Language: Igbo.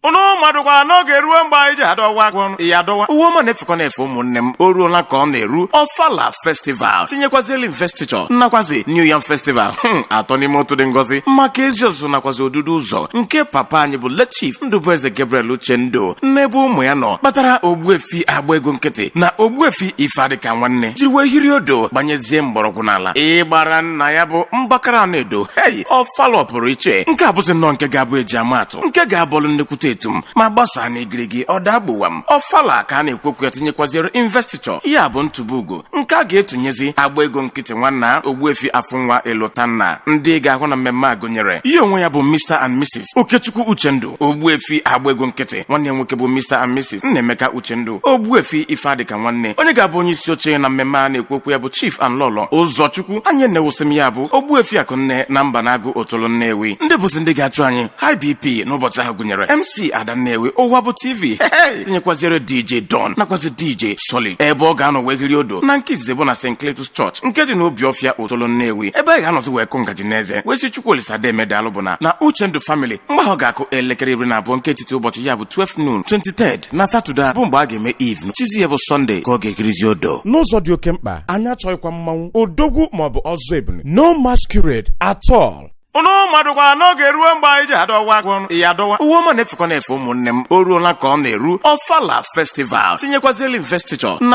ụnụ madụkwa n'oge eruo mgbe anyị ji adọwa agwọ ọnụ ya adọwa uwe ọma na-efekọ na-efe ụmụnne m o ruola ka ọ na-eru ọfala festival tinyekwazili investiture nakwazi new yam festival hmm, atọ n'ime otu dị ngọzi maka ezi ọzụzụ nakwazi odudu ụzọ nke papa anyị bụ late chief ndụbụeze gabriel uchendu n'ebe ụmụ ya nọ kpatara ogbuefi agba ego nkịtị na ogbuefi ife adịka nwanne jiri wee hiri odo gbanyezie mgbọrọgwụ n'ala ịgbara nna ya bụ mgbakara anaedo hei ọfala ọpụrụ iche nke a bụzi nnọọ nke ga-abụ eji amat atụ nke ga-abọlụ nnekwute etum ma gbasaa na igirigi ọda agbuwa m ọfala ka a na-ekwu okwu ya tinyekwaziere investiture ya bụ ntụba ugo nke a ga-etunyezi agba ego nkịtị nwanna ogbuefi afụnwa elotanna ndị ga-ahụ na mmemme a gụnyere ya onwe ya bụ Mr and Mrs Okechukwu Uchendu ogbuefi agba ego nkịtị nwanne ya nwoke bụ Mr and Mrs Nnaemeka Uchendu Ogbuefi Ifeadịka Nwanne onye ga-abụ onye isi oche na mmemme a na-ekwu okwu ya bụ Chief and Lọlọ Ụzọchukwu anyị na-ewusị m ya bụ Ogbuefi Akụnne na Mbanagụ Otolo Nnewi ndị bụzi ndị ga-achụ anyị high BP n'ụbọchị ahụ gụnyere MC Ada Nnewi ụwa bụ TV tinyekwaziere DJ Don nakwazi DJ Solid ebe ọ ga-anọ wee hiri odo na nke izizi bụ na St. Cletus Church nke dị n'Obiọfịa Otolo Nnewi ebe a ga-anọzi wee kụ ngaji n'eze wee sị Chukwu Olisa deme daalụ bụ na na Uchendu Family mgbe ahụ ga-akụ elekere iri na abụọ nke etiti ụbọchị ya bụ 12 noon 23 na satọde bụ mgbe a ga-eme eve echizi ya bụ sọnde ka ọ ga-ehirizi odo n'ụzọ dị oke mkpa anyị achọghịkwa mmanwụ odogwu maọbụ ọzọ ebule no masquerade at all ụnụ madụkwara na oge eruo mgbe anyị ji adọwa agwọ ọnụ ya adọwa uwe ọma na-efekọ na-efe ụmụnne m o ruola ka ọ na-eru ọfala festival tinyekwazili investiture na